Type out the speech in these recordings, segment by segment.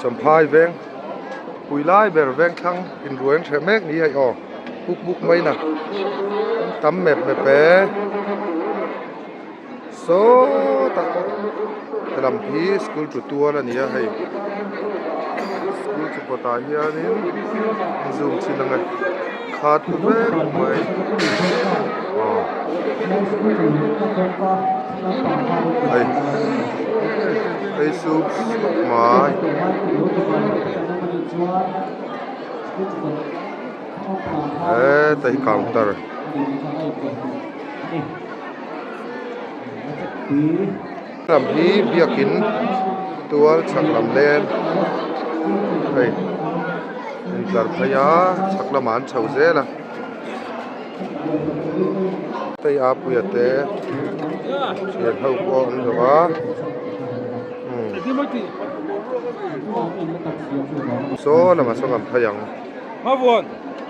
Champhai veng pui lai ber veng thlang in ruain hreh mek ni aih aw buk buk mai in a tam mep mep e sawta he lam hi school chu tual a ni a hei school chu kawtah hian in zoom chhin ang e. Khat vek mai ai ai su mai eh tai counter ih. Hnam hi biakin tual chhak lam lem a intlar phei a chhak lamah an chho zel a hei a puiah te thian ho pawh an lo va umm saw lama saw kan phai ang.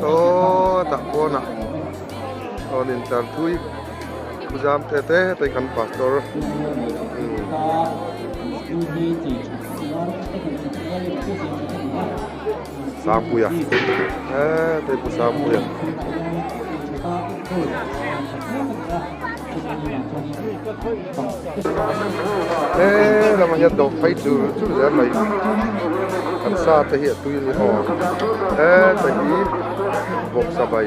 Sawtah pawn a rawn in tlar thui thu zam te te te kan pastor Sangpuia te pawh Sangpuia He lama hian dawh phei chur chur zel mai kan sa te hi a tui a ni aw heta hi bawksa bai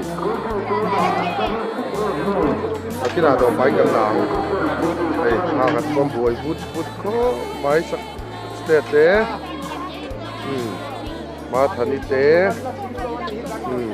a kinah dawh fai kan la ang hei hna kan thawm buai vut vut khawp mai state te umm Mathani te umm.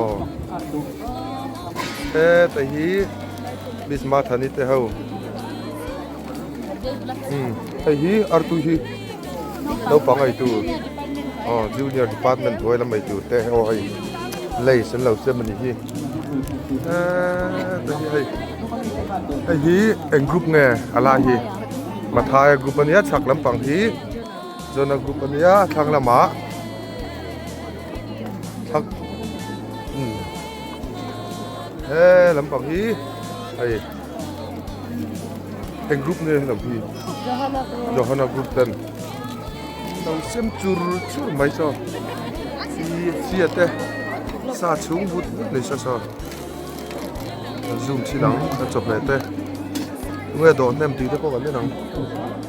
Aw heta hi bisma thani te ho umm hei hi artu hi naupang eitu aw junior department hnuai lam eitur te aw hei lace an lo chem a nih hi heta hi hei hei hi eng group nge a lai hi Mathai group a nia chhak lampang hi Jona group a nia thlang lamah. thak umm he lam pang hi hei heng group nge lam hi johana group ten lo sem chur chur mai saw fi fia te sa chhung vut vut nei sa saw zoom chin ang ka chawhmeh te nge dawh hnem tih te pawh kan en ang.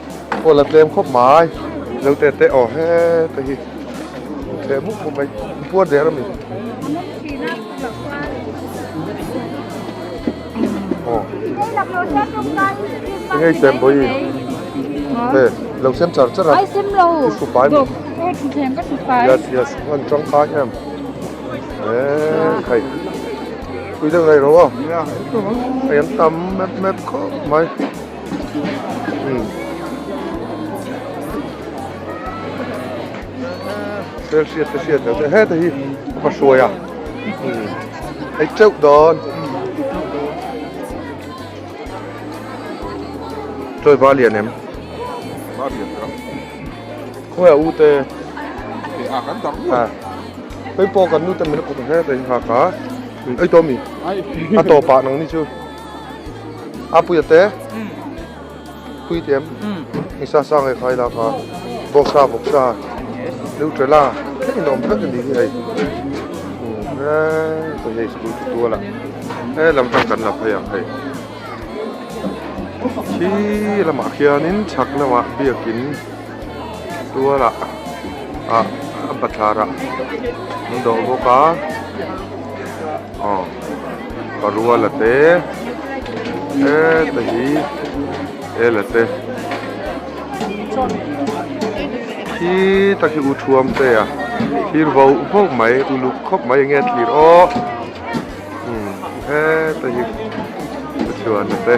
Aw la tlem khawp mai Zeute te aw he te hi tlem mup mup mai in puar der a mi aw te hi tlem bawi he lo sem char char a ai sem lo i hru pai lo aw thutthleng ka hru pai yes yes an tangkai em he an thei pui deuh daih lo a hei an tam mep mep khawp mai. Sel hriat te hriat loh te heta hi a va hruai a hei teuh dawn chawi va lian em va lian ka khawi a u te te a kan tam a hei pawh kan nu te min a kut ang he tei nghak a ei tawmi a tawp ah nang ni chu a puia te puitling i sa sa nge khai laka bawk sa bawk sa neutrela thil inawm tak a ni hi hei hei hei school chu tual a he lam tang kan la phei ang hei khi lamah khianin chhak lamah biakin tual ah ah a bathlar ah an dawh bawk a. aw ka rual a te heta hi el a te khi ta khi u thuam te a thlir vo vo mai uluk khawp mai enge tlir aw imm heta hi u chuan a te.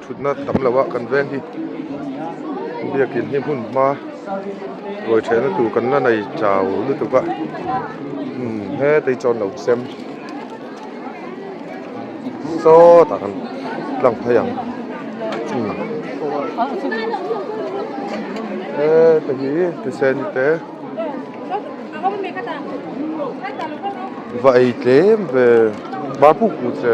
thutna tam lo a kan veng hi biakin hi hmun hma ruai thehna tur kan la nei chau lutuk a hmun hetei chuan lo sem sawt a kan lang phei ang hmun heta hi thusen te va ei tlem ve barbuk hmu che.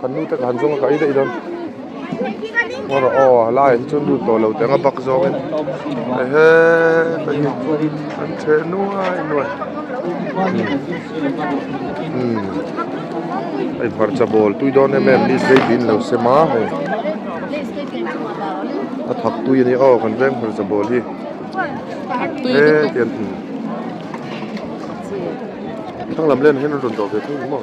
Kan nu te kha han zawng a kai daih dawn hawla aw a lai hi chuan lut tawh lo te anga bak zawng in hei he ka hi an chhe nuai nuai umm hei hmarcha bawl tui dawn em em ni hlei tih in lo se ma hei a thak tui a ni aw kan veng hmarcha bawl hi he tian thin thlanglam len ah hian an rawn dah ve thung ang maw.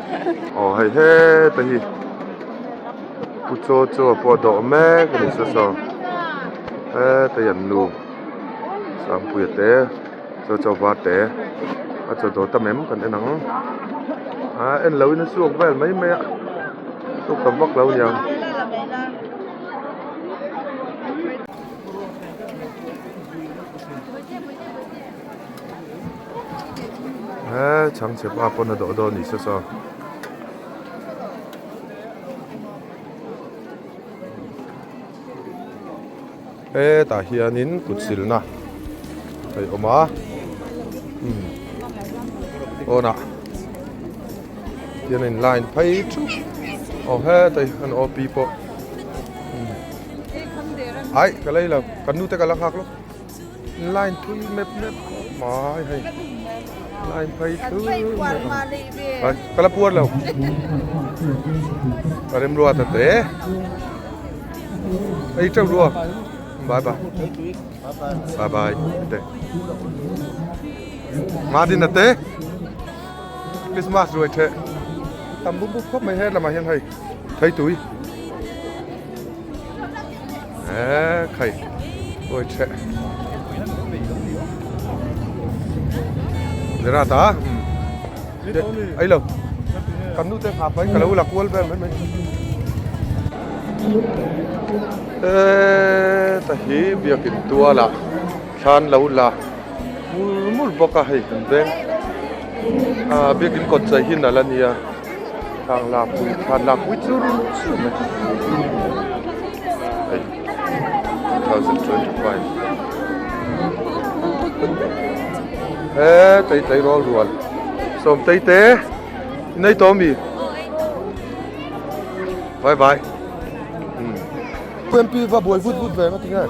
Aw hei heta hi Pu Chaw Chaw pawh a dawh mek a ni sa saw heta hi an nu Sangpuia te Chaw Chaw var te a chaw dawh ta em kan en ang a en lo in a suak vel mai mai a suk ta vak lo nia ang. he chhangchhe pa pawn a dawh dawn ni se saw. hetah hianin kut silna hei awm a umm pawnah hian a in line phai thup aw hetah hi an awlpi pawh umm aih ka lei lo kan nu te ka la nghak lawk. Line thui mep mep khawp mai hei line phei thui mep kala puar lo ka rem ruat a te ei chau rua bye bye bye bye te nga din ate Christmas ruai the tam bum bum khawp mai he lamah hian hei thei tui Eeh khai ui chhe Zera ta Ai lo Kan nu te ngha pai ka lo la kual ber mai mai Eeh ta hi biak in tual a thlan lo la mur mur bawk a hei kan veng. Ahh biakin kawt chei hi nalh a nia thlak lak pui thlak lak pui chu rilru chhiat mai hei two thousand twenty five he tlei tlei rual rual sawmtei te i nei tawh a mi vai vai umm khuem pi va buai vut vut ve ang a ti hian.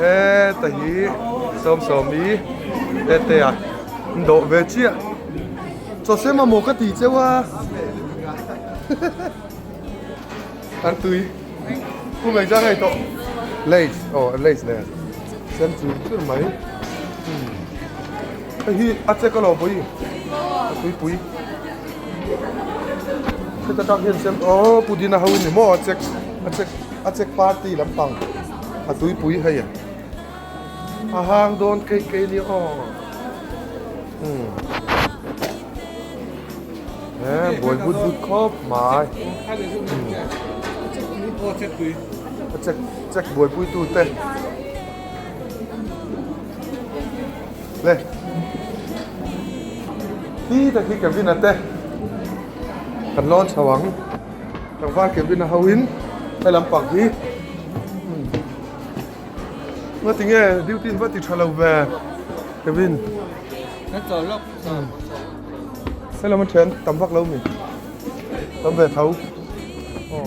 He ta hi Sawm Sawmi Tete a in dawh ve chiah chawse mamawh ka ti cheu a an tui pu Meija ngei tawh Lays aw Lays nen sem chun chur mai hei hi a che ka lo bawi a tui pui heta tak hian sem aw Pudina ho a ni maw a check a check. a Czech party lampang a tuipui hei a a hang dawn kei kei nia aw umm eh buai but but khawp mai a Czech Czech buaipui tu te le hi ta khi Kevin a te kan lawn chho ang. Tlangval Kevin a ho in helam pang hi Nga tinge duty in va ti tha lo ve Kevin Ka chaw lawk Selam a thian tam vak lo mi tam ve tho aw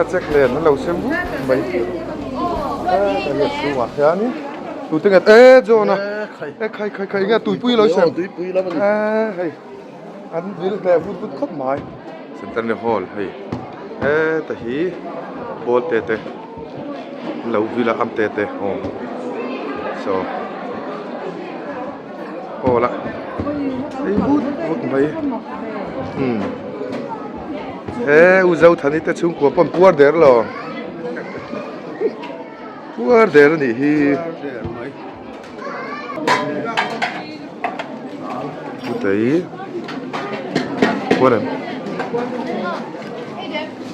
a check nen an lo sem hluk mai heta chhungah hianin tute nge e John a e khai khai khai nge tuipui a lo sem e hei an vil hle a vut vut khawp mai centenary hall hei heta hi ball te te an lo vil a am te te aww so. awl a ei hut hut mai umm he u zothani te chhungkua pawn puar der lo puar der anih hi chutah hi puar em.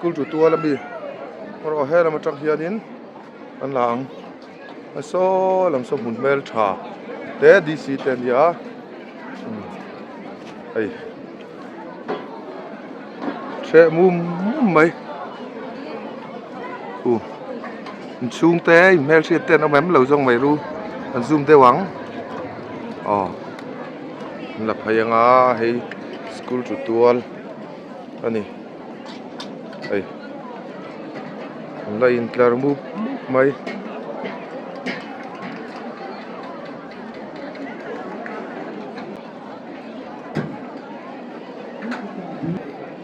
school chu tuala mi pawh a hma lamah hianin an la ang. a saw lam saw hmun hmel tha te D C te an ni a hei hreh mum mum mai u inchhung te inhmel hriat te an awm em lo zawng mai ru an zoom deuh ang aw an la phai anga hei school chu tual. a ni hei la intlar mup mup mai.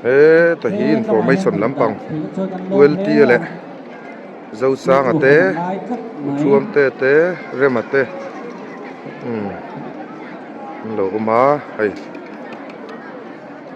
Heta hi information lampang ultia leh zosanga te uthuam te te rema te umm an lo awm a hei.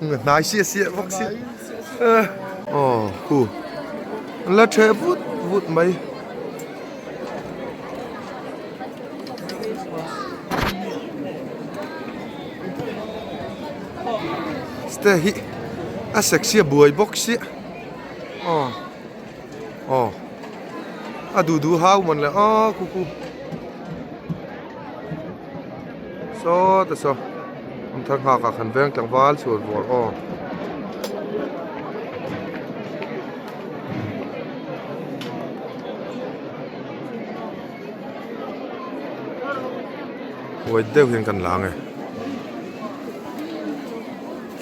Hnai siah siah vak si eh aw hu la chhe vut vut mai ste hi a sexy a buai bawk siah aw. Aw a duh duh hau man le aw kuku sawt a saw an thar nghak ah khan veng tlangval chhuar vawr aw huai deuh hian kan la nge.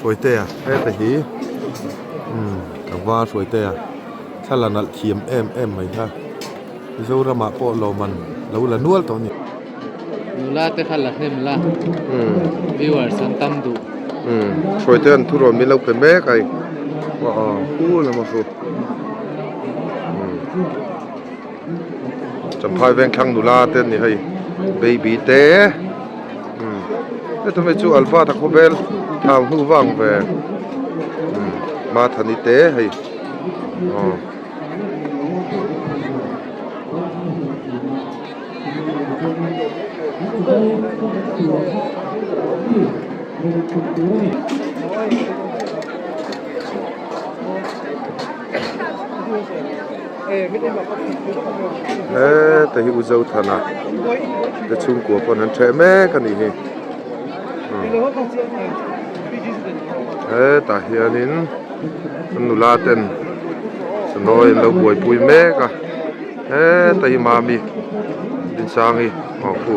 Hruaite a, heta hi umm a var hruaite a, thla la nalh thiam em em mai kha, Mizoram ah pawh lawmman lo la nual tawh a ni. Nula te kha la hnem la, viewers an tam duh. Hruaite an thu rawn min lo pe mek ai, hu lam a hru. Champhai vengthlang nula te an ni hei baby te umm heta hmeichh chu alfa tak pawh vel thau hnu vang ve umm Mathani te hei aw -- heta hi uzo thana te chhungkua pawn an cheh mek a nih hi hetah hianin an nula ten sawi an lo buaipui mek a heta hi mami dinsangi pu.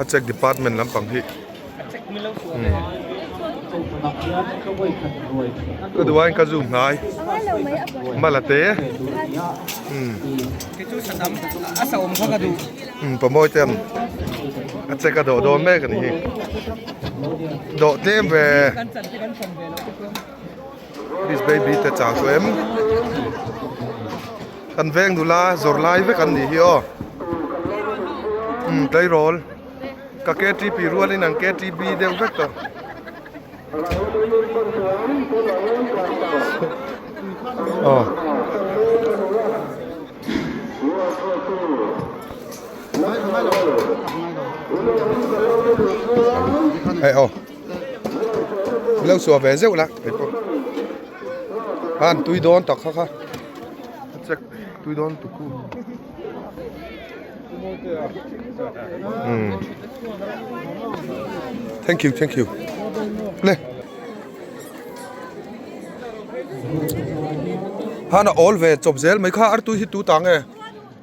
A check department lampang hi ka duh ain ka zoom hnai mala te pawmawii te ang a check a dawh dawn mek a ni hi dawh tlem ve. Miss baby te chang chu em kan veng nula zawrh lai vek an nih hi aw umm tleirawl ka ktp rual in ang ktb deuh vek tawh aw hei aw. Ka lo suah ve zeuh la keipawh khan tui dawn tak kha kha ka check tui dawn tuk ku thank you thank you le han a awl ve chawp zel mai kha ar tui hi tu ta nge.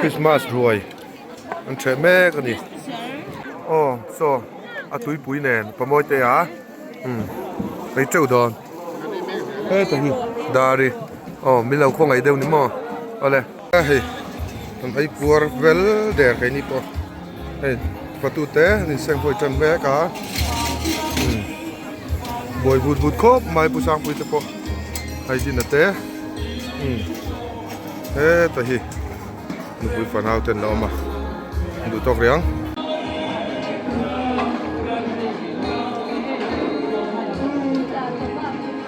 Christmas hnuai an chhe mek a ni aw chaw a tuipui nen ka mawi te a umm ei teuh dawn heta hi dari aw milo khawngaih deuh ni maw awle. Ka hei kan ei kuar vel der kei ni pawh hei fatu te an in seng hawi tan mek a buai vut vut khawp mai pu sangpui te pawh hei din a te heta hi nupui fanau ten la awm a duh tawk riang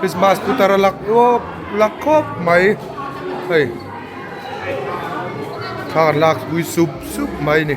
Christmas putar a lak luau lak khawp mai hei thla an lakpui sup sup mai a ni.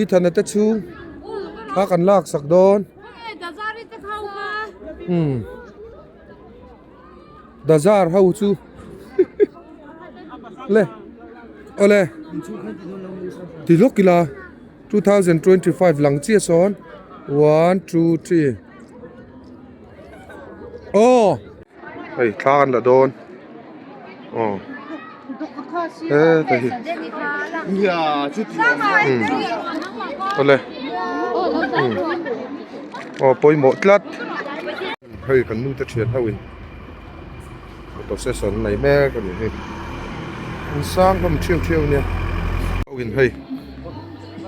I thana te chu thla kan lak sak dawn umm bazar ho chu le awle ti hlawk ila two thousand twenty five lang chiah sawn one two three aww. hei thla an la dawn aw he ka hi awle aw pawimawh tlat hei kan nu te thian hoin photo session nei mek a ni hei an sang hlawm thiam thiam ania hei.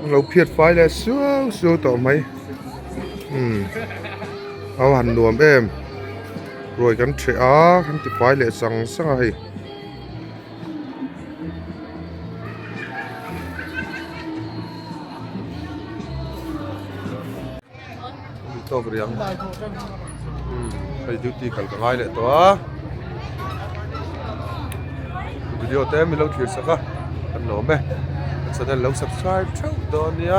An lo phiat fai leh suau suau tawh mai umm ho han nuam em ruai kan ṭheh a kan ti fai leh sang sang a hei. Tawk riang hei duty kal ka ngai leh tawh a video te min lo thlir sak a kan nuam e channel lo subscribe theuh dawn nia.